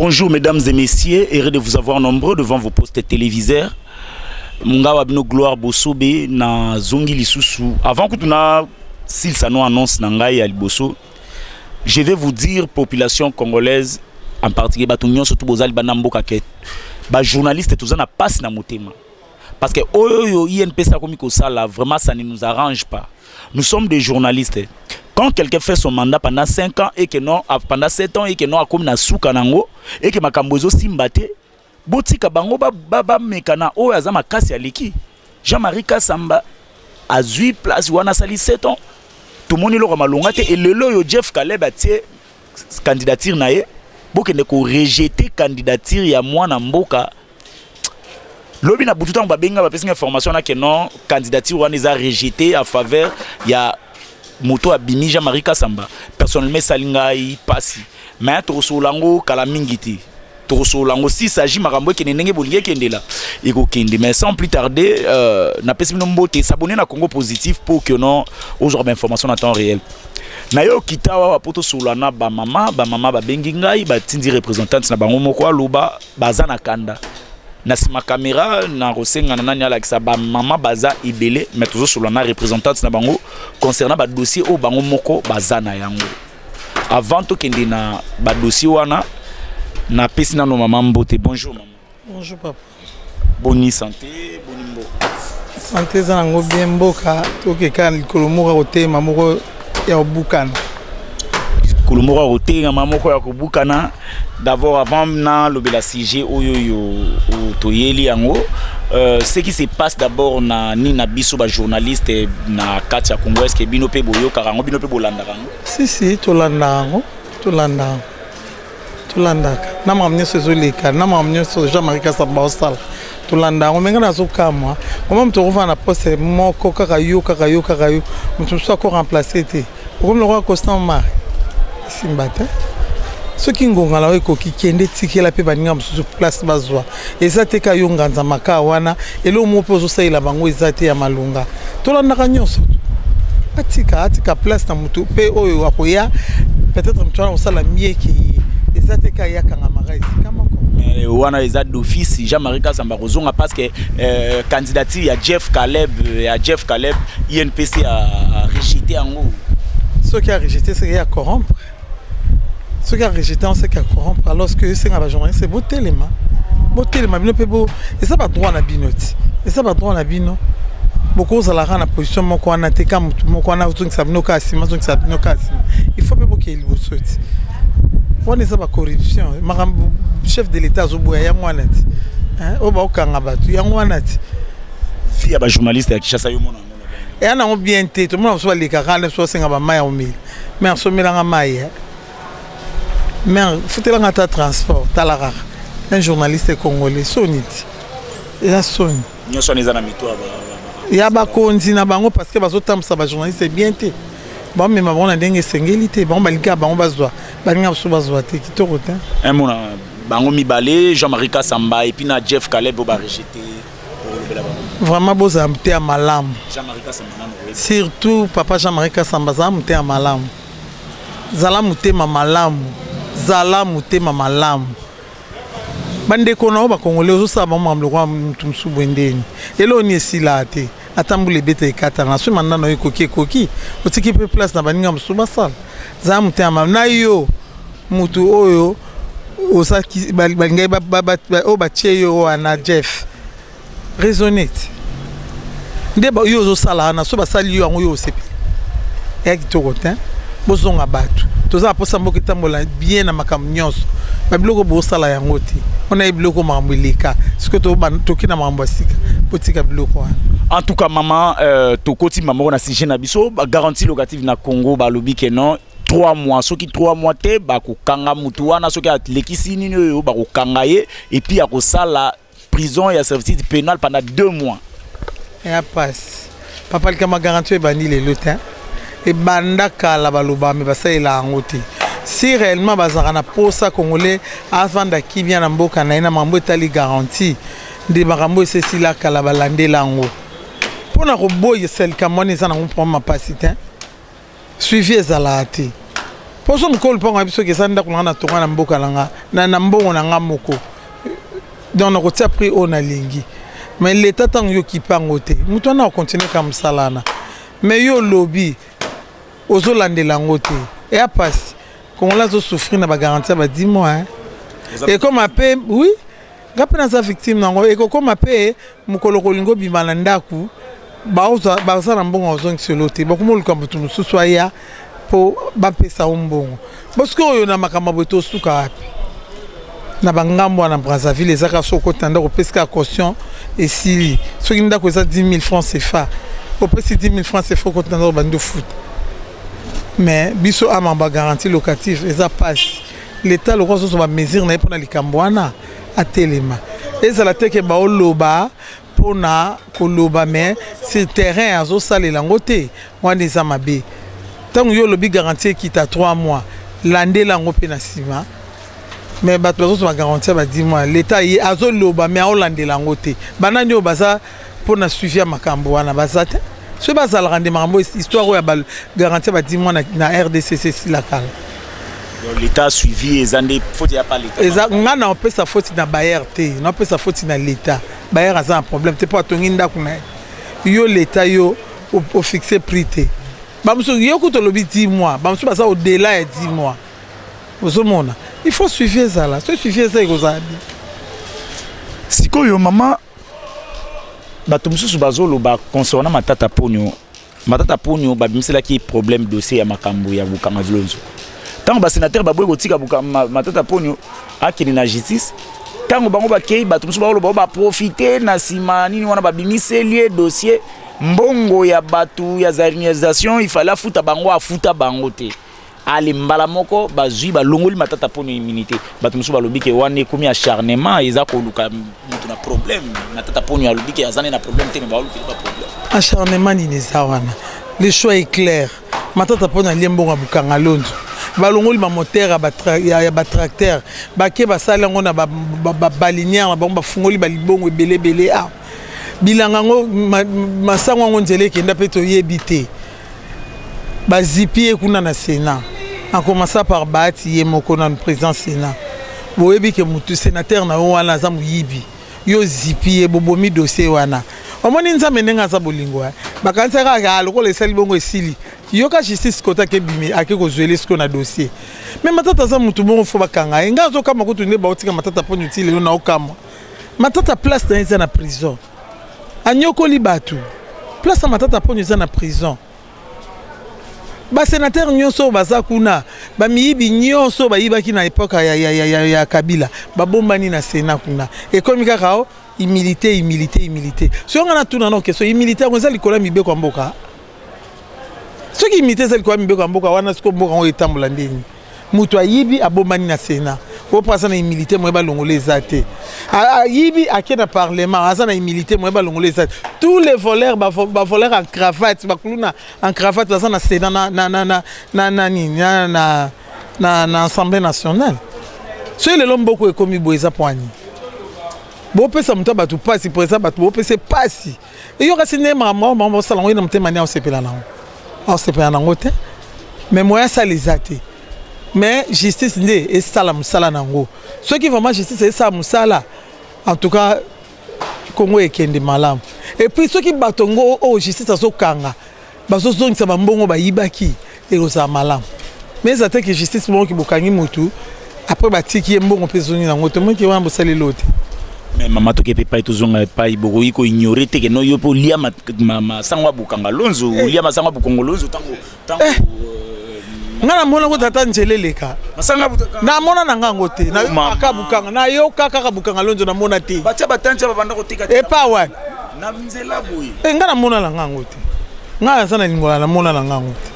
Bonjour mesdames et messieurs, heureux de vous avoir nombreux devant vos postes téléviseurs. Mungawa bino gloire bosobe na zongi lisusu. Avant que tu na silsa no annonce na ngai ya liboso Je vais vous dire population congolaise en particulier bato nyonso tu bozali bana mboka ke bajournaliste toza na mpasi na motema parce que oyo oyo inps akomi kosala vraiment ça ne nous arrange pas nous sommes des journalistes quand quelqu'un fait son mandat pendant 5 ans et que non pendant 7 ans et que non akomi na suka nango et que makambo ezosimba te botika bango bameka na oyo aza makasi aleki Jean-Marie Kasamba azui place wana asali 7 ans tomoni eloko malonga te elelo oyo Jeff Caleb atie candidature na ye bokende korejete candidature ya mwana mboka lobi na butu ntango babengi nga bapesi nga information na kenon candidature wana eza rejete en faveur ya moto abimi jean marie kasamba personnellement esali ngai mpasi mais tokosolola yango kala mingi te tokosolola yango si s'agit makambo ekende ndenge bolingi ekendela ekokende mais sans plus tarder euh, napesi bino mbote s'abonner na congo positif pour que non ozwa bainformation na temps réel nayoki ntawa awa mpo tosolola na bamama bamama babengi ngai batindi représentante na bango moko aloba baza na kanda na nsima kamera nakosengana nani alakisa bamama baza ebele mais tozosolola na représentante na bango concernant badossier oyo bango moko baza na yango Avant tokende na ba dossier wana na pesi nano mama mbote bonjour mama. Bonjour papa. Boni santé boni mboka. Santé eza nango bien mboka tokeka likolo moko ya kotema moko ya kobukana. Likolo moko ya kotema moko ya kobukana d'abord avant na lobela sujet oyo yo toyeli yango euh, ce qui se passe d'abord na ni na biso ba journaliste na kati ya Congo est-ce que bino pe boyokaka yango bino pe bolandaka Si si tolanda yango, tolanda yango. Tolandaka na makambo nyonso ezoleka na makambo nyonso Jean Marie Kasamba osala tolanda yango menga nazokamwa mama moto okofana na poste moko kaka yo kaka yo kaka yo moto mosusu ako remplace te okomi lokola constant mari esimba te soki ngonga na yo ekoki kende tikela mpe baninga mosusu place bazwa eza te ka yo nganza makaa wana eloko moko mpe ozosalela bango eza te ya malonga tolandaka nyonso atika atika place na moto mpe oyo akoya peut-être moto wana kosala mie ke ye eza te ka ye akangamaka esika moko Eh, wana eza d'office jean marie kasamba kozonga parce que euh, candidature ya jeff caleb euh, ya jeff caleb inpc a, a rejete yango soki arejete soki ya corrompre soki arejete on seke acorrompre alors que esenga bajournaliste botelema botelema bino mpe bo eza badroit na bino ti eza badroit na bino bokozala kaka na position moko wana te ka motu moko wana ozongisa bino kaka nsima azongisa bino kaka nsima il faut mpe bokei liboso ti wana eza bacorruption makambo chef de l'état azoboya yango wana ti oyo baokanga bato yango wana ti fille ya bajournaliste ya kinshasa yo mona eya nango bien te tomona mosusu balekaka na so asenga bamai ya omeli mer somelanga mai eh. mer futelanga ata transport tala kaka un journaliste congolais soni ti eza soni nyonso wana eza na mito ya bakonzi na bango parce que bazotambwisa bajournaliste bien te bamema bango na ndenge esengeli te bango balingaka bango bazwa balingaka mosusu bazwa te kitoko te mona bango mibale jean-marie kasamba epuis na jeff caleb oyo barejete vraiment bozala moteya malamu surtout papa jean marie kasamba zala moteya malamu zala motema malamu zala motema malamu bandeko na yo bakongole ozosala bango makambo lokola motu mosusu boye ndeni eloo ni esilaa te ata mbula ebeta ekatana soki manda na yo ekoki ekoki otiki mpe place na baninga mosusu basala zala motema na yo motu oyo oza balingaki oyo batye yo wana jeff raisonne te nde yo ozosala wana so basali yo yango yo osepeli eya kitoko te bozonga batu toza na posa mboka etambola bien na makambo nyonso babiloko bosala yango te wana ye biloko makambo eleka soki toki na makambo ya sika botika biloko wana en tout cas mama euh, tokoti mamoko na sujet na biso garantie locative na congo balobi ke non 3 mois soki 3 mois te bakokanga motu wana soki alekisi nini oyo bakokanga ye epuis akosala prison ya servitude pénal pendant deux mois ya pasi papa likama garanti oyo ebandi lelo te ebanda kala baloba me basalela yango te si réellement bazalaka na posa congolais avanda kimia na mboka na ye na makambo etali garanti nde makambo esesila kala balandela yango mpo na koboyisa likambo wana eza nango mpo mapasi te suivi ezalaka te poso mokolo mpango ya biso keza ndako nanga na tonga na mboka na nga na, na mbongo na nga moko donc nakotia prix oyo nalingi mais leta ntango yo kipango te moto wana akontinue ka mosala wana mais yo olobi ozolandela yango te eya mpasi kongola azosouffrir na bagaranti ya badimo ekoma mpe oui nga mpe naza victime nango ekokoma mpe mokolo kolinga obima na ndako baza na mbongo ozongisa elo te bakoma oluka moto mosusu aya mpo bapesa yo mbongo bosoki oyo na makambo boye tosuka wapi na bangambo wana brazzaville eza kaka soki okoti na ndako opesi kaka caution esili soki ndako eza 10 000 francs cfa opesi 10 000 francs cfa okoti na ndako bandi ofuta mais biso amamba garantie locative eza pasi L'etat lokola azozo ba mesure na ye mpona likambo wana atelema ezala te ke baoloba mpona koloba me sur terrain azosalela yango te wana eza mabe ntango yo olobi garantie ekita 3 mois landela yango mpe na nsima me bato bazozo bagarantie ba 10 mois leta ye azoloba me aolandela yango te banani oyo baza mpo na suivi ya makambo wana baza te soki bazalaka nde makambo histoire oyo ya bagarantie badi mwana na rdcc esila kala leta suivi eza nde foti ya pa leta eza ngai na opesa foti na bayer te na opesa foti na leta bayer aza na problème te mpo atongi ndako na ye yo leta yo ofixe prix te bamosusu yo kutu olobi 10 mois bamosusu baza odela ya 10 mois ozomona il faut suivi ezala soki suivi eza ekozala bien sikoyo mama bato mosusu bazoloba concernant matata ponio matata ponio babimiselaki problème dossier ya makambo ya bokanga vilonzo ntango basénateur baboyi kotika matata ponio akende na justice ntango bango bakei bato mosusu bakoloba baprofite na nsima nini wana babimiseli ye dossier mbongo ya bato ya zarinalisation ifale afuta bango afuta bango te ale mbala moko bazwi balongoli matata mpo na immunité bato mosusu balobi ke wana ekomi acharnement eza koluka moto na problème matata mpo nio alobi ke aza ne na problème te me baolukeli ba problème acharnement nini eza wana le choix est clair matata mpo na lie mbongo ya bokanga lonzo balongoli bamotere ya batracteur bake basali yango na babalinière na bango bafungoli balibongo ebele ebele awa ah. bilanga yango masango yango nzela ekenda mpe toyebi te Bazipi ye kuna na Senat en commençant par Bahati ye moko nanu president Senat. Boyebi ke mutu senateur na yo wana aza moyibi. Yo ozipi ye bobomi dossier wana. Omoni Nzambe ndenge aza bolingo hein. Bakanisaki kaka ah lokola esali bongo esili. Yoka justice kote ake bimi ake kozuele sikoyo na dossier. Mais Matata aza mutu bongo faut bakanga ye. Nga nazokamwa kutu nde baotika Matata poni ti lelo naokamwa. Matata place na ye eza na prison. anyokoli bato place ya matata mponyo eza na prison basenatere nyonso oyo baza kuna bamiyibi nyonso oyo bayibaki na epoke ya, ya, ya, ya, ya kabila babombani na sena kuna ekomi kaka o oh, humilité humilité humilité soki nga natuna no question humilité yango eza likolo ya mibeko ya mboka soki humilité eza likolo ya mibeko ya mboka wana siko mboka yango etambola ndeni mutu ayibi abombani na sena oyo mpo aza na humilité moye balongola eza te ayibi ake na parlement aza na humilité moye balongola eza te tous les voleurs bavoleur en cravate bakuluna en cravate baza na sena na nini na assemblée nationale soki lelo mboko ekomi boye eza mpo ani bopesa moto ya bato mpasi mpo eza bato bopesa mpasi Yo kasi nde makambo yango bango basala yango ye na motema nde aosepela nango aosepela nango te mais moyen asala eza te mais justice nde esala mosala na yango soki vraiment justice esala mosala en tout cas kongo ekende malamu epuis soki bato yango oyo justice azokanga bazozongisa bambongo bayibaki ekozala malamu mais eza te ke justice moko kibokangi motu après batiki ye mbongo mpe ezongi nango te moki wana bosali elo te mais mama toke mpe epai tozonga epai bokoki koignore te keno yo mpe olia masango ya bokanga lonzo eh. olia masango ya bokongo lonzo ntango ntango eh. euh, nga namona ko tata njele eleka namona na nga yango te nayokaka bukanga nayoka kaka bukanga lonzo namona te epa wapi eh, nga namona na nga yango te Ngai naza na lingwala na mona na ngai yango te.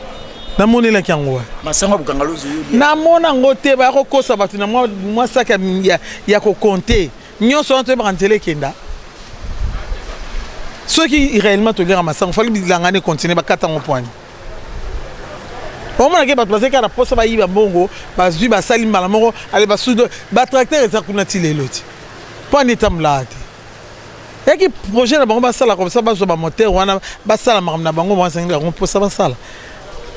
Na monelaki yango wapi? Masango ya bokanga lozi oyebi. Na mona yango te ba ko kosa bato na mwa mwa sac ya, ya, ya ko compter. Nyonso wana toyebaka nzela ekenda. Soki réellement toliaka masango fali bilanga ne continuer bakata yango pwani. omonake bato bazali kaka na mposa bayiba mbongo bazwi basali mbala moko ale basudo batracteur eza kuna ti lelo ti mpo ani etambulaka te yaki projet na bango basala comme ça bazwa bamoteur wana basala makambo na bango bazangi yango mposa basala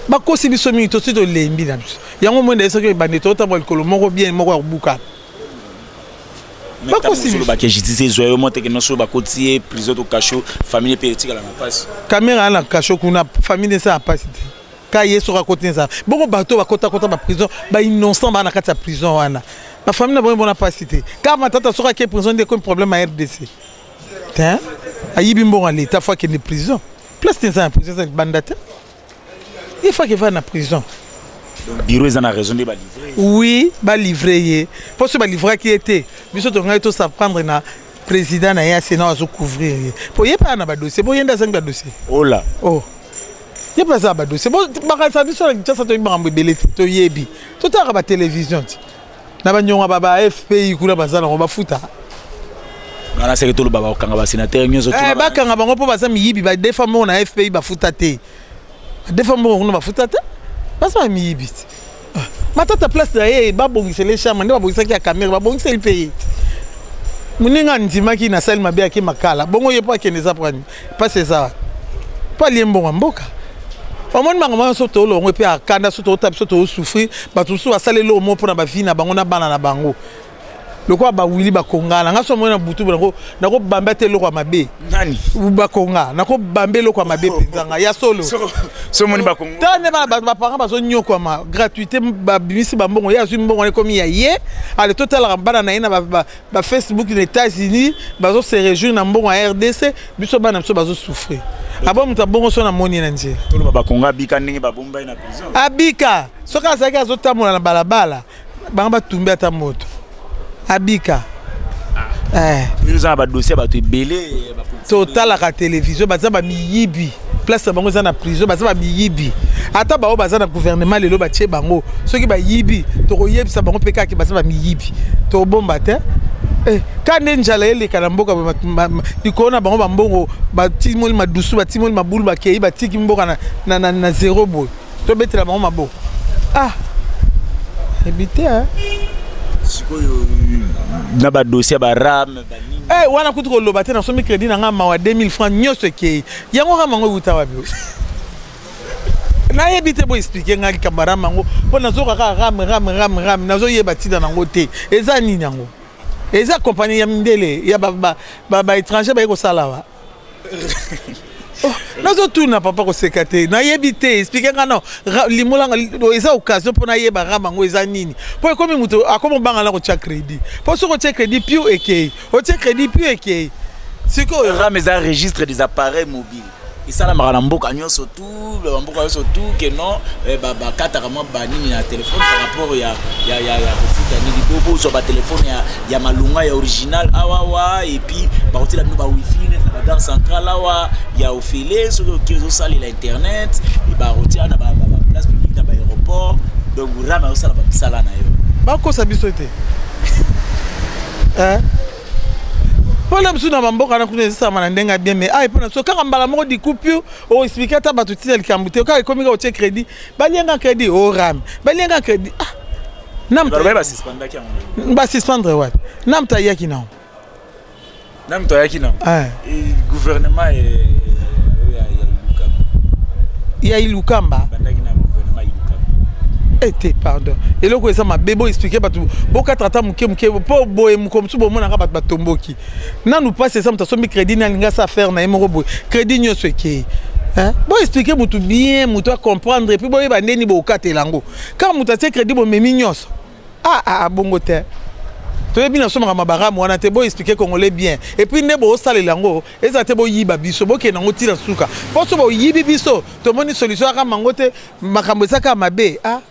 bakosi biso mingi tosi tolembi na biso yango mwenda ye soki ebandi totambola likolo moko bien moko ya kobukana bakosiolobaki justice ezwa yo moteke nyonso bakoti ye prison to cachot famille mpe etikala na mpasi kamera ya na cachot kuna famille esa ya mpasi te ka ye soki akoti nzala bongo bato bakotakota baprison bainnocent baa na kati ya prison wana bafamille na bango emona mpasi te kaka matata soki ake prison nde ekomi problème ya rdc te ayibi mbongo ya leta fo akende prison place te eza na prison eza libanda te ye fo akevaa na prison biro eza na raison nde balivre oui balivre ye mpo soki balivraki ye te biso tongaki tosaprendre na président na ye ya sénat azocouvrir ye mpo ye mpe aa na badossier mpo ye nde azangi badossier ola oh. ye mpe aza badose bakanisa biso na kinshasa toyebi makambo ebele te toyebi totalaka batelevision ti na banyonga ba ba fpi kuna baza nango bafuta wana seke toloba bakokanga basenatere nyonso eh, bakanga bango mpo baza miyibi badefa moko na fpi bafuta te badefa moko kuna bafuta te baza bamiyibi te Ah, matata place na ye babongisela ye charme nde babongisaki ya camere babongiseli mpe ye moninga andimaki na sali mabe yaki makala bongo ye mpo akende eza mpo mpasi eza wapi mpo alie mbongo ya mboka omoni bango bango so tolongwe mpe akanda so tootala biso toosouffrir bato mosusu basaleli omo mpo na bavi na bango na bana na bango lokola bawili bakongana nga so amoni na butu nakobamba ete eloko ya mabe nani bakonga nakobamba eloko ya mabe mpenza nga ya solo somoni bakonga ta nde bana bato bapanga bazonyokwama gratuité babimisi bambongo ye azwi mbongo wana ekomi ya ye ale totalaka bana na ye na bafacebook na états-unis bazose réjouir na mbongo ya rdc biso bana biso bazosouffrir abo moto abongo so namoni na nzela toloba bakonga abika ndenge babombai na prison abika soki azalaki azotambola na balabala bango batumbi ata moto abika eza na badosie ya bato ebele totalaka televizio baza bamiyibi place na bango eza na prison baza bamiyibi ata baoyo baza na gouvernement lelo batie bango soki bayibi tokoyebisa bango mpe kaka baza bamiyibi tobomba te eh, ka nde njala eleka na mboka likolo na bango bambongo batimoli madusu batimoli mabulu bakei batiki mboka na, na, na, na zero boye tobetela bango maboko ah ebi te eh. sikoyo na badosi ya barame Hey, eh, wana kutu koloba te nasomi crédit na ngai mawa 2000 francs nyonso ekei yango kaka mango euta wapi nayebi te boexplike ngai likambo ya rame yango mpo nazoka kaka rame rame rame rame nazoyeba ntina nango te eza nini yango eza kompani ya mindele ya baétranger baye kosala wa Oh, nazotuna papa koseka te nayebi te explike nga no limolanga eza occasion mpo nayeba rama yango eza nini mpo ekomi moto akomi obanga na kotya crédit mpo soki otya crédit piu ekei otya crédit piu ekei sikoyo rama eza registre des appareils mobile esalamaka na mboka nyonso tout ba mboka yoso tout que non eh, ba ba kata kama ba nini na téléphone par rapport ya ya ya ya kofuta nini bo bo zo ba téléphone ya ya malunga ya original awa wa et puis ba kotela bino ba wifi na ba gare centrale awa ya ofele soki oki zo sali la internet et ba kotela na ba ba ba place publique na ba aéroport donc rama osala ba misala na yo ba kosa biso te hein mpo na biso na bamboka na kuna ezisama na ndenge ya bien mai ayi mpo na biso kaka mbala moko dikupure o explique ata bato tina likambo te kaka ekomi kaka otie crédit balianga crédit o oh, rame balianga crédit ah basuspendre wapi na moto ayaki nango na moto ayaki nango eh. gouvernement eh, ya ilukamba ete eh, pardon eloko eza mabe bo explike bato bokatra ata moke moke mpo boye mokolo mosusu bomonaka bato batomboki nanu pasi eza moto asombi crédit nani nga sa affaire na ye moko boye crédit nyonso ekei boexplike motu bien motu acomprendre epuis boyeba ndeni bokatela yango kaka moto atie crédit bomemi nyonso aa ah, ah, ah, bongo te toyebi nasomaka mabaramu wana te boexplike congolais bien epuis nde bosalela yango ezala te boyiba biso bokende yango ntina suka mpo so boyibi biso tomoni solution yaka mango te makambo ezaka mabe a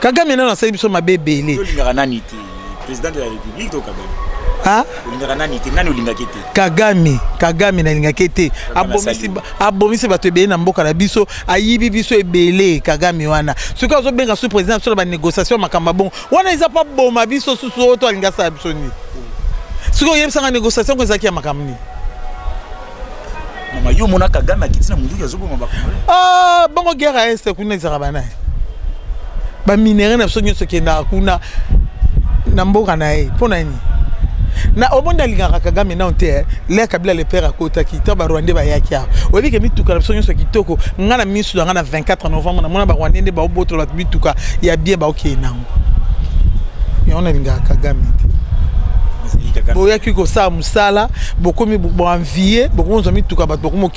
Kagame nano asali biso mabe ebele. Tolingaka nani te? President de la République to Kagame? Ah? Olingaka nani te? Nani olingaki te? Kagame, Kagame nalingaki te. Abomisi abomisi bato ebele na mboka na biso, ayibi biso ebele Kagame wana. Soki azo benga sous président sur ba négociation makamba bon. Wana eza pas boma biso sous oto alinga sa biso ni. Soki oyebisa nga négociation ko ezaki ya makambo ni. mama yo mona kagame akiti na munduki azoboma bakongole ah, bongo guerre ya este kuna ezalaka banaye baminere na biso nyonso ekendaka kuna na mboka na ye mpo na nini na omoni alingaka kagame nao te eh. lea kabila le père akotaki ntango barwandais bayaki awa oyebi ke mituka na biso nyonso kitoko ngai na miso na ngai na 24 novembre namona barwandais nde baobotola bato mituka ya bien baokeye nango yango nalingaka kagame te boyaki kosala mosala bokomi boanvie bokomi ozwa mituka bato bokomi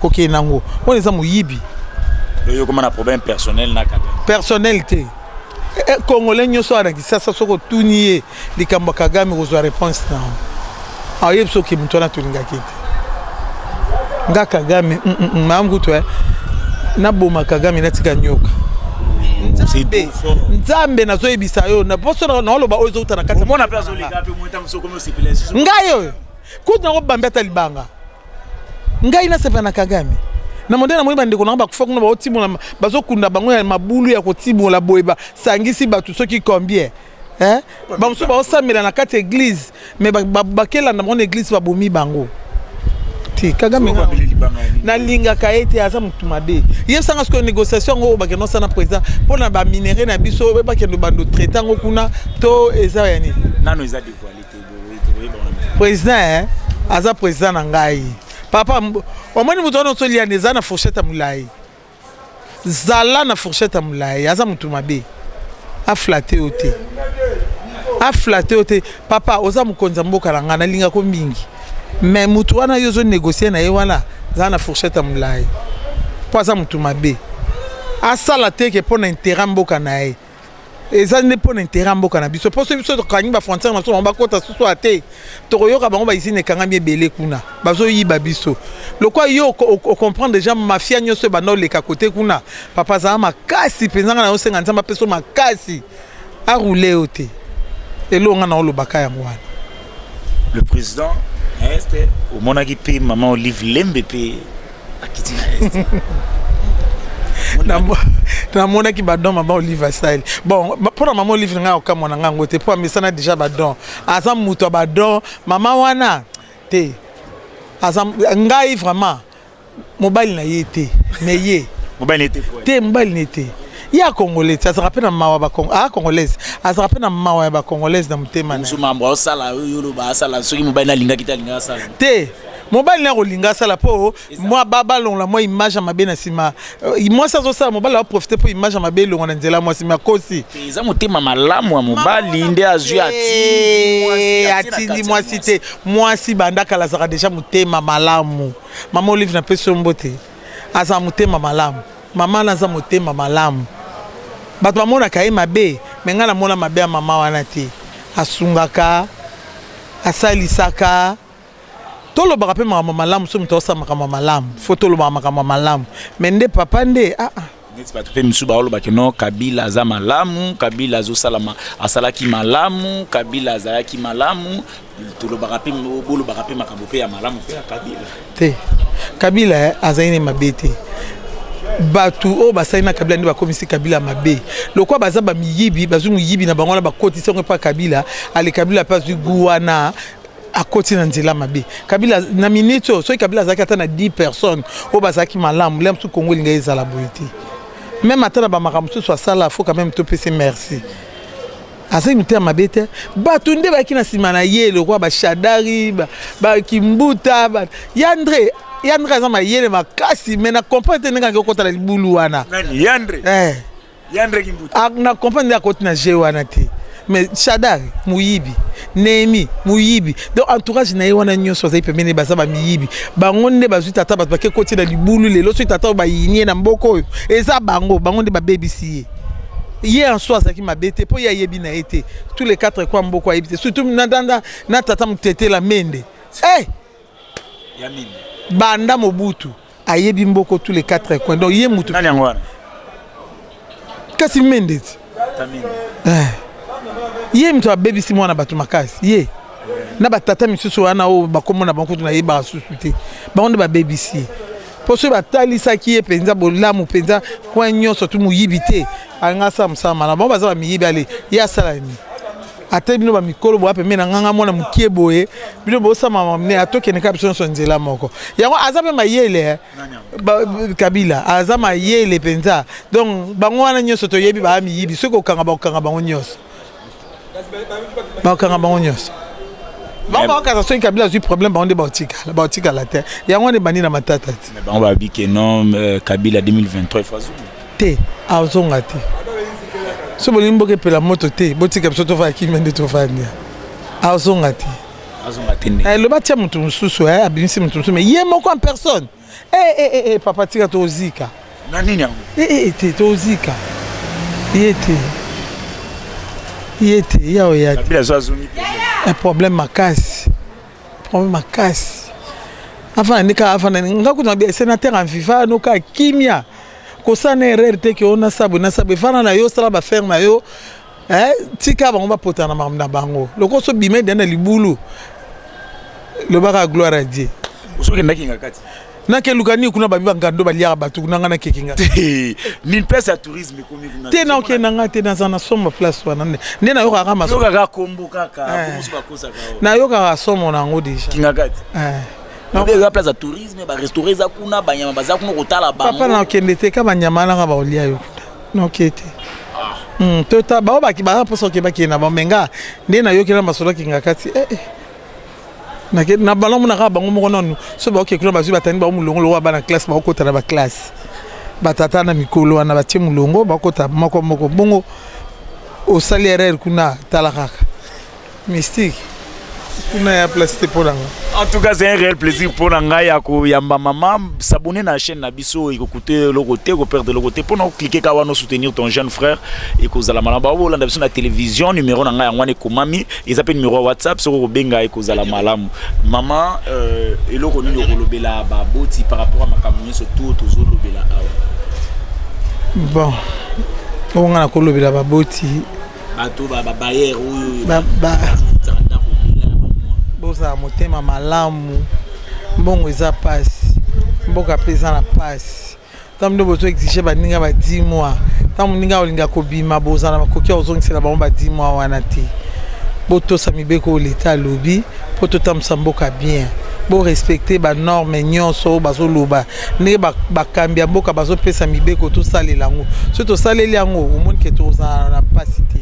kokende nango wana eza moyibi personnel te eh, eh, congolais nyonso awa na kisasa soki otuni ye likambo ya kagame kozwa reponse na yango aoyebi ah, soki moto wana tolingaki te nga kagame mm, mm, mm, maa ngutu eh. naboma kagame natika nyoka nzambe nzambe nazoyebisa yo na poso naoloba oyo ezouta na kati ngai oyo kutu nango bambi ata libanga ngai nasepela na kagame na monde namoni bandeko nango bakufa kuna baotimola bazokunda bango ya mabulu ya kotimola boye basangisi bato soki combien hein ba musu ba osamela na kati église mais ba bakela na mon église ba bomi bango te kagame nalingaka ye te aza motu mabe yebisanga sikoyo négociation yango oyo bakende osala na président mpo na baminerai na biso oyo bakende bando traite yango kuna to eza ya nini nano eza dévoile te président eh, aza président na ngai papa omoni moto wana osoliyana eza na fourchette ya molai Zala na fourchette ya mulayi aza mutu mabe a flatte yo te a flatte yo te papa oza mokonzi ya mboka na nga nalinga ko mingi mais mutu wana yo ozo négocier na ye wana zala na fourchette ya mulayi po aza mutu mabe asala te ke pona intérêt mboka na ye eza nde mpo na intere ya mboka na biso mpo soki biso tokangi bafrontiere na biso bango bakota susu a te tokoyoka bango baizini ekangami ebele kuna bazoyiba biso lokola yo ocomprendre deja mafia nyonso ebanda oleka kote kuna papa azala makasi mpenza ngai nayosenga nzambe apeso makasi aroule yo te eloo ngai naolobaka yango wana le président est omonaki mpe mama olive lembe mpe akiti na est namonaki badon mama olive asali bon mpo na mama olive na ngai akokamwa na ngai yango te mpo amesana déjà badon aza moto ya badon mama wana te aza ngai vraiment mobali na ye te me ye te mobali na ye te ye akongole te azalaka mpe na mawa akongolaise ah, azalaka mpe na mawa ya bakongolaise na motema te mobali naye akolinga asala mpo mwa balongola mwa image ya mabe na nsima euh, mwasi azosala mobali aprofite mpo image ya mabe elongo na nzela mwasi me akosi eza motema malamu ya mobali nde azwi atindi mwasi te mwasi banda kala azaka deja motema malamu mama olive na pesi yo mbote azala motema malamu mama naza motema malamu bato bamonaka ye mabe me ngai namona mabe ya mama wana te asungaka asalisaka tolobaka mpe makambo malamu so moto asala makambo malamu fo tolobaka makambo malamu me nde papa nde aa ah, ah. neti bato mpe misusu baolobaki no kabila aza malamu kabila azosala ma, asalaki malamu kabila azalaki malamu tolobaka mpe bolobaka mpe makambo mpe ya malamu mpe ya kabila te kabila eh, azali ne mabe te bato oyo basali na kabila nde bakomisi kabila mabe lokola baza bamiyibi bazwi moyibi na bango wana bakotisi yango epa kabila ale kabila mpe azwi gu wana akoti na nzela mabe kabila na minute oyo soki kabila azalaki ata na 10 personnes oyo bazalaki malamu lea mosusu kongo elingai ezala boye te meme ata na bamaka mosusu asala fo quand meme topese merci azali motema mabe te bato nde bayaki na nsima na ye lokola bashadari bakimbuta ba, ya andre ya andre aza mayele makasi me na comprendre te ndenge akekota na libulu wana ya andre eh. Yandre Kimbuta. Ah, na comprendre ya koti na jeu wana te. Mais Shadar muyibi, Nehemi muyibi. Donc entourage na ye wana nyonso azali pembeni baza ba miyibi. Bango nde bazwi tata bato bake koti na libulu lelo soki tata ba yinie na mboko oyo. Eza bango, bango nde babebisi ye. Ye en soi azalaki mabe te mpo ye ayebi na ye te. Tous les quatre kwa mboko ayebi te. Surtout na, na, na tata mutetela mende. Eh! Hey! banda mobutu ayebi mboko tous les quatre coins donc ye mutu nani yango wana kasi mende ti eh. ye moto abebisi mwana bato makasi ye na batata misusu wana oyo bakombo na bango kutu nayebaka susu te bango nde babebisi ye mpo soki batalisaki ye mpenza bolamu mpenza kwen nyonso tu moyibi te alinga asala mosala malamu bango baza bamiyibi ale ye asala nini ata bino ba mikolo boya pembe na nganga mwana mokie boye bino bosama mamne atokende kaka biso nyonso nzela moko yango aza mpe mayele eh. kabila aza mayele mpenza donc bango wana nyonso toyebi baa miyibi soki kokanga bakokanga bango nyonso bakokanga bango nyonso bango bakokasa soki kabila azwi problème bango nde baotikala baotikala te yango wana ebandi na matata ti bango babike non euh, kabila 2023 fazulu te azonga te so bolingi mboka epela moto te botika biso tofanda kimia nde tofandi azonga te eloba eh, tia moto mosusu eh, abimisi moto mosusu me ye moko en personne ee eh, papa tika tozika na nini yango ee te tozika ye te ye te ya oya te problème makasi problème makasi afana ndeka afana nga kuna senateur en viva noka kimia kosala na erreur te ke ona sabwe na sabwe fana na yo sala ba faire na yo eh, tika bango bapotana makambo na bango lokola so bima edani na libulu lobaka gloire a die osokendaki nga kati nakeluka nini kuna babi bangando baliaka bato kuna ngai nakeki nga nini place ya tourisme ekomi kuna te naokende na ngai te naza na somo place wana nde nde nayokaka masoyokaka kombo kaka eh. nayokaka somo na yango deja kingakati eh. mabe eza place ya tourisme barestaurant eza kuna banyama baza kuna kotala bango papa nakende te ka banyama nanga baolia yo kuna noke te ah. hmm, tota bao baza mposa oke bakende na bango menga nde nayoki na masolaki nga kati eh, eh. na balamu na kaka bango moko nanu so baoke kuna bazwi batani bango molongo lokola bana classe bakokota na baklasse batata na mikolo wana batie molongo bakota moko moko bongo osali erreur kuna tala kaka Mystique, kuna ya place te pona nga. En tout cas, c'est un réel plaisir pour Nangai ya koyamba maman. S'abonner na chaîne na biso et écouter le côté, ko perdre le côté pour nous cliquer kawa nous soutenir ton jeune frère et ko zala malamba bo landa biso na télévision numéro na ngai ngwane komami ils appellent numéro WhatsApp soko ko benga et ko zala malamu. Maman euh eloko nini okolobela ba boti par rapport à makambo nyonso tout tozo lobela awa. Bon. Onga na kolobela ba boti bato ba bayer oyo bozala motema malamu mbongo eza mpasi mboka mpe eza na mpasi ntango nde bozo exige baninga ba 10 mois ntango moninga olinga kobima bozala na makoki ya kozongisela bango ba 10 mois wana te botosa mibeko oyo leta alobi mpo totambwisa mboka bien borespecte banorme nyonso oyo bazoloba ndenge bakambi ya mboka bazopesa mibeko tosalela yango soki tosaleli yango omoni ke tozala na mpasi te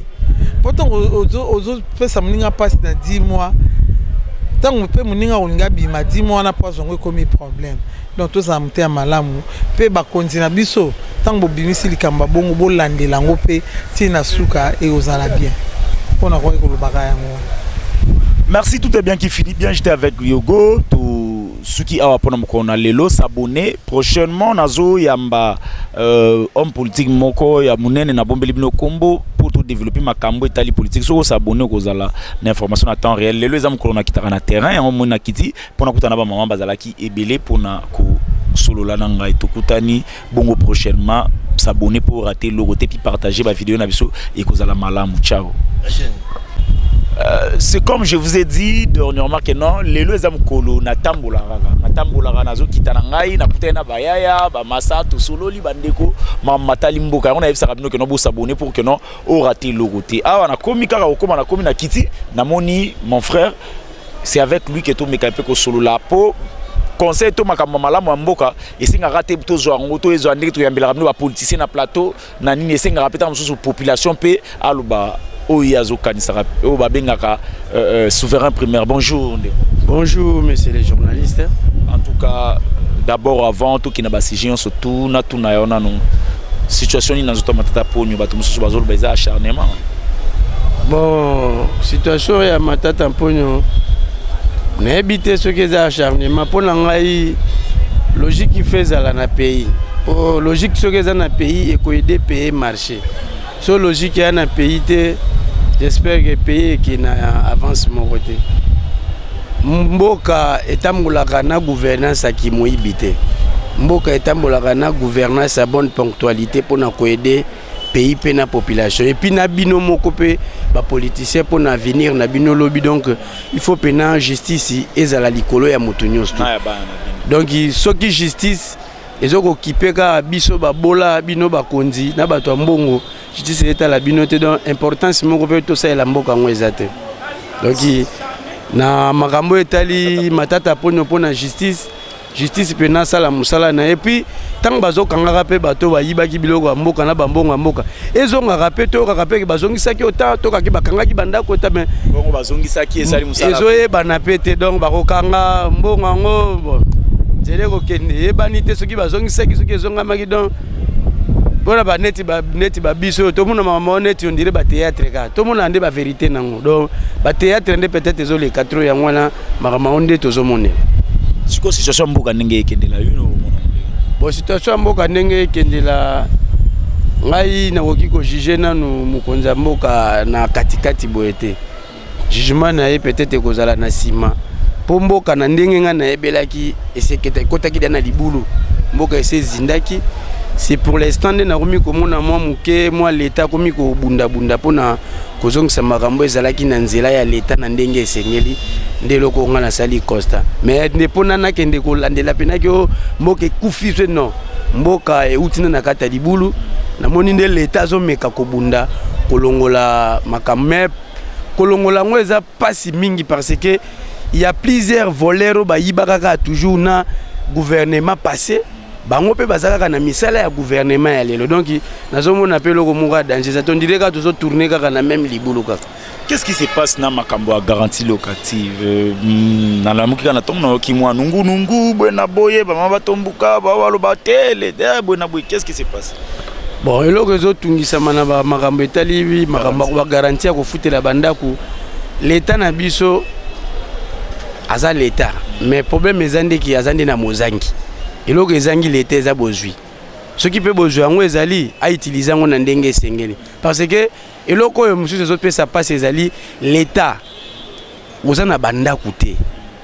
mpo ntango ozopesa moninga mpasi na 10 mois ntango mpe moninga olingi abima 10 mois wana mpo azwa yango ekomi problème donc tozala motema malamu mpe bakonzi na biso ntango bobimisi likambo ya bongo bolandela yango mpe ntina na suka ekozala bien mpo nakoki kolobaka yango merci tout est bien qui finit bien j'étais avec yogo to suki awa pona mokolo na lelo s'abonner prochainement nazo yamba euh, homme politique moko ya munene na bombeli bino kombo pour to développer makambo etali politique soko s'abonner okozala na information na temps réel lelo eza mokolo na kitaka na terrain yango moni na kiti pona kuta na ba maman bazalaki ebele pona ko solola na ngai tokutani bongo prochainement s'abonner pour rater logo te puis partager ba vidéo na biso ekozala malamu ciao Euh, c'est comme je vous ai dit dernièrement que non lelo eza mokolo natambolaka natambolaka nazokita na ngai nakutani na bayaya bamasa tosololi bandeko matali mboka yango nayebisaka bino keno bosabone pour que non orate eloko te awa nakomi kaka kokoma nakomi na kiti namoni mon frère c'est avec lui que tomeka mpe kosolola mpo conseil to makambo malamu ya mboka esengaka te tozwa yango to ezwa ndenge toyambelaka bino bapoliticien na plateau na nini esengaka mpe ntango mosusu population mpe aloba oyo ye azokanisaka oyo babengaka euh, euh, souverain primaire bonjour ndeko bonjour monsieur le journaliste en tout cas d'abord avant tokenda basujet nyonso tuna tuna yo nanu situation nini nazoto matata ponyo bato mosusu bazoloba eza acharnement bon situation ya matata mponyo nayebi te soki eza acharnement mpo na ngai logique ife ezala na pays mpo logique soki eza na pays ekoyede paye marché So logique ya na pays te, j'espère que pays eke na avance moko te. Mboka etambolaka na gouvernance ya kimoyibi te. Mboka etambolaka na gouvernance ya bonne ponctualité mpo na koede pays mpe na population epuis na bino moko mpe bapoliticien mpo na avenir na bino lobi donc il faut mpena justice ezala likolo ya moto nyonso te donc soki justice ezo ko kipe kaka biso babola bino bakonzi na bato ya mbongo justice etala bino te donc importance moko mpe tosalela mboka yango eza te donc na makambo oyo etali matata mponio mpo na justice justice mpe nasala mosala na ye puis ntango bazokangaka mpe bato bayibaki biloko ya mboka na bambongo ya mboka ezongaka mpe toyokaka mpe bazongisaki ota tokaki bakangaki bandako ota me bongo bazongisaki ezali mosala ezoyebana mpe te donc bakokanga mbongo yango nzela ekokende eyebani te soki bazongisaki soki ezongamaki donc mpona baneti baneti babiso oyo tomona mama neti ondire bateatre ka tomonaka nde baverité nango donc bateatre nde peut-être ezoleka tro yango wana makambo yango nde tozomonela sikoyo situation ya mboka ndenge ekendela yo bon situation ya mboka ndenge ekendela ngai nakoki kojuge nanu mokonzi ya mboka na katikati boye te jugement na ye peut-être ekozala na nsima mpo mboka na ndenge ngai nayebelaki eseketa ekotaki da na libulu mboka esi ezindaki c'est pour l'instant nde nakomi komona mwa moke mwa leta akomi kobundabunda mpona kozongisa makambo ezalaki na nzela ya leta na ndenge esengeli nde eloko oyo ngai nasali constat mais nde mpo na nakende kolandela mpenaki o mboka ekufi so non mboka euti na na kati ya libulu namoni nde leta azomeka kobunda kolongola makambo me kolongola yango eza mpasi mingi parce que ya plusieurs voleurs oyo bayibaka kaka toujours na gouvernement passé bango mpe baza kaka na misala ya guvernema ya lelo donc nazomona mpe eloko moko ya danger eza tondire kaka tozotourne kaka na meme libulu kaka qu'est ce qui se passe na makambo ya garantie locative euh, hmm, nalamuki kaka na ntongo nayoki mwa nungunungu boye na boye bamama batombuka bawaloba tele eh, boye na boye qu'est ce qui se passe bon eloko ezotungisama na makambo etali makambo bagaranti ya kofutela bandako leta na biso aza leta mais problème eza ndeki aza nde na mozangi eloko ezangi leta eza bozwi soki mpe bozwi yango ezali autilize yango na ndenge esengeli parce que eloko oyo mosusu ezopesa mpasi ezali leta oza na bandako te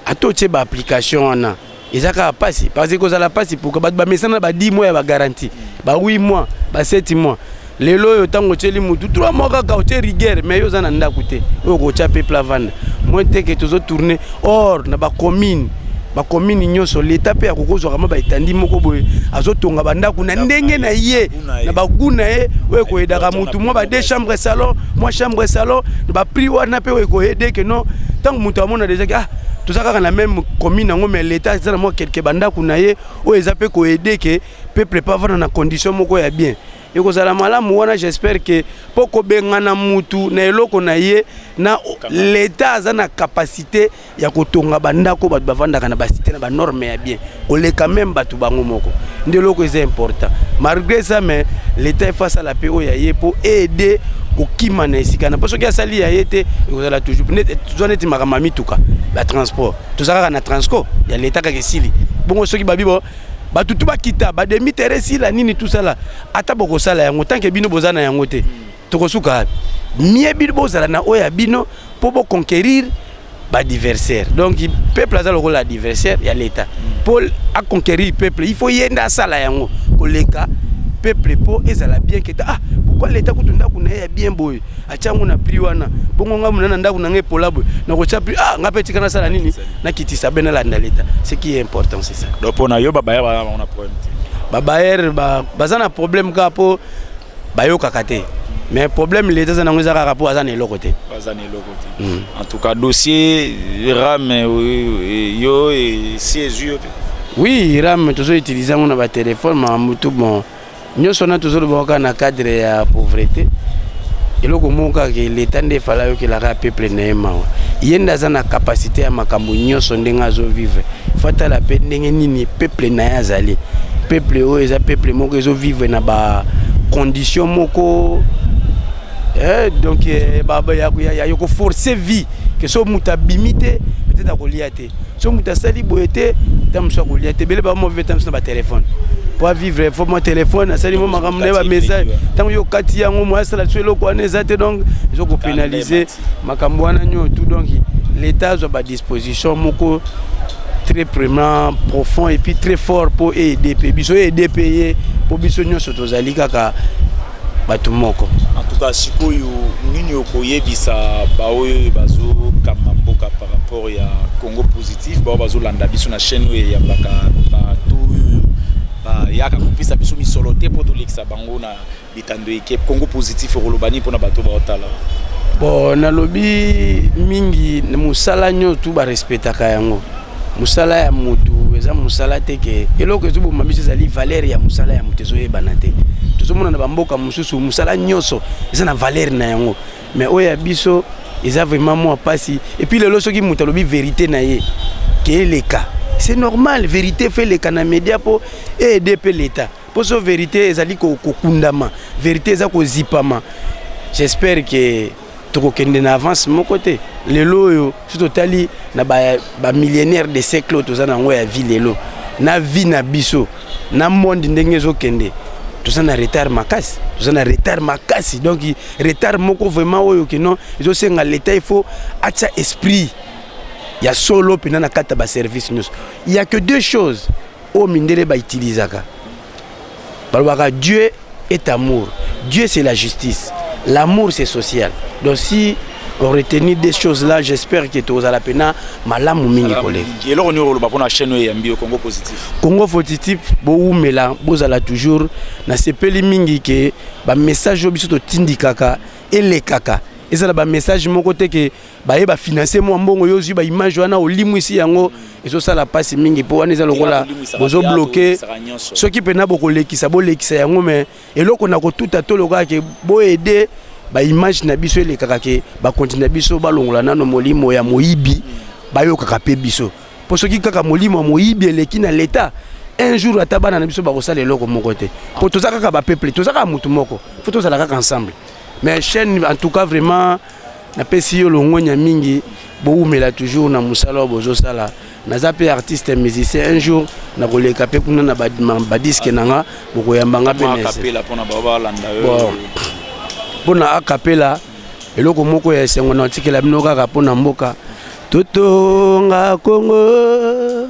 ata otye baapplication wana eza kaka mpasi parce que kozala mpasi pourka bato bamesana ba 10 mois ya bagaranti ba 8 mois ba 7 mois lelo oyo ntango otyeli motu trois mois kaka otye rigueur mais yo oza na ndako te oyo okotya mpe plavanda moi teke tozo tourne or na bacommune bakomini nyonso leta mpe akoki kozwaka mwa baetandi moko boye azotonga bandako na ndenge na ye na bagu na ye oyo ekoyedaka motu mwa ba deux chambre salon mwa chambre salon na baprix wana mpe oyo ekoyede ke non ntango moto amona deja ke ah toza kaka na meme commune yango mais leta eza na mwa kelke bandako na ye oyo eza mpe koyede ke peuple pa vana na condition moko ya bien ekozala malamu wana j'espère que mpo kobengana mutu na eloko na ye na leta aza na capacité ya kotonga bandako bato bavandaka na basite na banorme ya bien koleka meme bato bango moko nde eloko eza important malgré ça mais leta efa asala mpe oyo ya ye mpo aide kokima na esika na mpo soki asali ya ye te ekozala toujours toza neti makambo ya mituka batransport toza kaka na transco ya leta kaka esili bongo soki babi bato tu bakita bademi tere esila nini tusala ata bokosala yango tanke bino boza na yango te tokosuka wapi mie bino bozala na oyo ya bino mpo boconquérir badiversaire donc peuple aza lokola adversaire ya leta mpo aconquérir peuple il faut ye nde asala yango koleka peuple mpo ezala bien keta ah pourkoi leta kutu ndako na ye ya bien boye atia yango na prix wana bongo ngai mona na ndako na ngai epola boye nakotya prix ah ngai mpe tika nasala nini nakitisa be nalanda leta ce qui est important c'est ça donc mpo na yo babaya baza na problème te babayere baza na problème kaka mpo bayokaka te mais problème leta aza nango eza kaka mpo aza na eloko te aza na eloko te hmm. en tout cas dossier rame euh, euh, yo esi ezwi yo te oui rame tozo utilise yango na batelefone makambo tu bon nyonso wana tozoloba kaka na cadre ya pauvrete eloko moko kaka ke leta nde efale ayokelaka peuple na ye mawa ye nde aza na kapasite ya makambo nyonso ndenge azovivre fatala mpe ndenge nini peuple na ye azali peuple oyo eza peuple moko ezovivre na bacondition moko eh, donc eh, ya koforce vie ke so moto abimi te peut-être akolia te so moto asali boye te ta mosusu akolia te ebele baa mauvais temps na batelefone po avivre fo mwa telefone asali mwa makambo na ye bamessage ntango yo okati yango moya asala liso eloko wana eza te donc ezo kopénalize makambo wana nyoo tout donc l'état azwa badisposition moko très vraiment profond et puis très fort mpo aide mpe biso aide mpe ye mpo biso nyonso tozali kaka bato moko antuka sikoyo nini okoyebisa baoyo bazokamba mboka par rapport ya congo positif bao bazolanda biso na chaîne oyo eyambaka bato oyo bayaka kopesa biso misolo te mpo tolekisa bango na bitando eke congo positif okoloba nini mpona bato baotala bon nalobi mingi mosala nyonso tu barespectaka yango mosala ya motu eza mosala te ke eloko ezoboma biso ezali valeur ya mosala ya moto ezoyebana te tozomona na bamboka mosusu mosala nyonso eza na valeur na yango mais oyo ya biso eza vraiment mwa mpasi epuis lelo soki moto alobi verité na ye ke eleka c'est normal verité fe eleka na media mpo eede mpe leta mpo so verité ezali kokundama verité eza kozipama j'espère ke tokokende na avance moko te lelo oyo soki totali na bamillionnaire ba de siècle oyo toza na yango ya vie lelo na vie na biso na monde ndenge ezokende toza na retard makasi toza na retard makasi donc retard moko vraiment oyo kino ezosenga leta il faut atya esprit ya solo mpenza na kati ya baservice nyonso il y a que deux choses oyo mindele ba utilisaka balobaka dieu est amour dieu c'est la justice l'amour c'est social donc si on retenir des choses là j'espère que tozala mpena malamu mingi koleka eloko nini okoloba mpona chaîne oyo eyambi yo congo positif congo positif bowumela bozala toujours nasepeli mingi ke bamessage oyo biso totindikaka elekaka ezala bamessage moko te ke baye ba financer mwa mbongo yo ozwi ba image wana olimwisi yango ezosala mpasi mingi mpo wana eza lokola bozobloke soki mpena bokolekisa bolekisa yango me eloko na kotuta to lokola ke boede baimage na biso elekaka ke bakonzi na biso balongola nano molimo ya moyibi bayokaka mpe biso mpo soki kaka molimo ya moyibi eleki na leta un jour ata bana na biso bakosala eloko moko te mpo toza kaka bapeuple toza kaka motu moko fo tozala kaka ensemble mais chaîne en tout cas vraiment napesi yo longwenya mingi bowumela toujours na mosala oyo bozosala naza mpe artiste musicien un jour nakoleka mpe kuna na badiske na nga bokoyamba nga mpe mpo na akapela eloko moko ya esengo na otikela bino kaka mpo na mboka totonga kongo